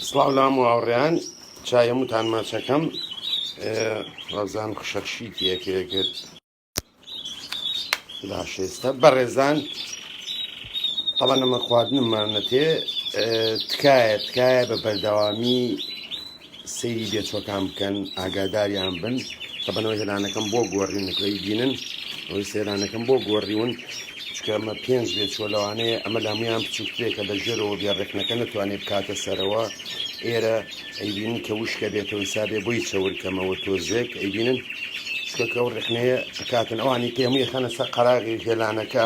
سڵاو لام و هاوڕێیان چای هەمووتان ماچەکەم ڕزان خشەخشی تێکێ کرد باشێستا بەڕێزان ئەڵە نەمە خواردنمانەتێ تکایە تکایە بە بەردەوامی سەیری بێچوەکان بکەن ئاگاداریان بن کە بنەوەی هێرانەکەم بۆ گۆڕیون نکۆی بینن ئەوەی سێرانەکەم بۆ گۆڕیون چکە ئەمە پێنج بێت چۆ لەوانەیە ئەمە لەمویان بچووکترێک کە لە ژێرەوە بێ ڕێکنەکە نتوانێت بکاتە سەرەوە ئێرە ئەیبین کە وشکە بێتەوە حسابێ بۆی چاورکەمەوە تۆزێک ئەیبینن شکەکە و ڕێخنەیە ئەکاتن ئەوانی کە هەمووی خەنە سەر قەراغی هێلانەکە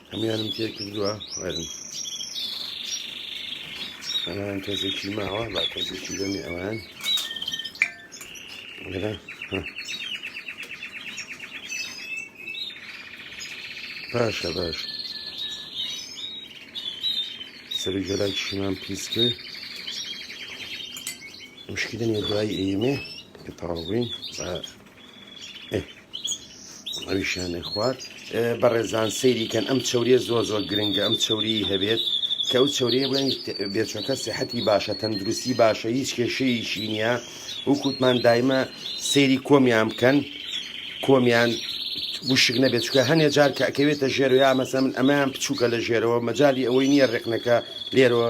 هەمویانم تێ کردووە وەرن ئەوان تۆزێکی ماوە با تۆزێکی بەمێ ئەوان وەرە باشە باش سەری گەلاک شمان پیس کرد مشکلە نیە دوایی ئێمێ کە تاوابووین ئەویشانێ خوارد بەڕێزان سەیریکەن ئەم چوریە زۆر زۆر گرنگە ئەم چوری هەبێت کە ئەو چوریە بڵێن بێچۆکە سەحەتی باشە تەندروستی باشە هیچ کێشەیەکی نییە و کووتمان دایمە سەیری کۆمیان بکەن کۆمیان وشک نەبێت چکە هەنێ جار کە ئەکەوێتە ژێرەوە مەسە من ئەمەیان بچووکە لە ژێرەوە مەجای ئەوەی نییە ڕێکنەکە لێرەوە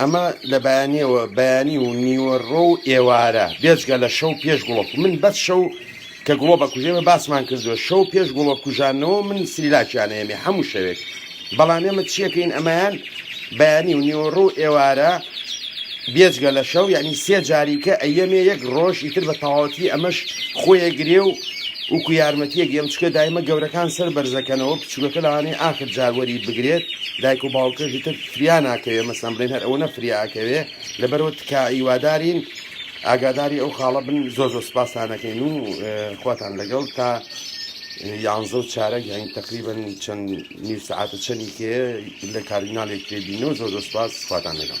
ئەمە لە بەیانیەوە بەیانی و نیوەڕۆ و ئێوارە بێجگە لە شەو پێش گوڵۆک من بەس شەو کە گوڵۆ بە کوژێمە باسمان کردووە شەو پێش گوڵۆ کوژانەوە من سریلاکیان ئێمێ هەموو شەوێک بەڵام ئێمە چیەکەین ئەمەیان بەیانی و نیوەڕۆ و ئێوارە بێجگە لە شەو یعنی سێ جاریکە ئەیەمێ یەک ڕۆژ ئیتر بە تەواوەتی ئەمەش خۆیە گرێ و وکو یارمەتیەک ئەم چکە دایمە گەورەکان سەر بەرزەکەنەوە بچووکەکە لەوانەیە ئاخر جاروەری بگرێت دایک و باوکەژی تر فریا ناکەوێ مەسەن بڵێن هەر ئەوەنە فریا ئەکەوێ لەبەرەوە تکا ئیوادارین ئاگاداری ئەو خاڵە بن زۆر زۆر سپاسانەکەین و خواتان لەگەڵ تا یانزە و چارەک یانی تقریبن چەند نیو سعاتە چەنی کێ لە کاردینالێک تێبینەوە زۆر زۆر سپاس خواتان لەگەڵ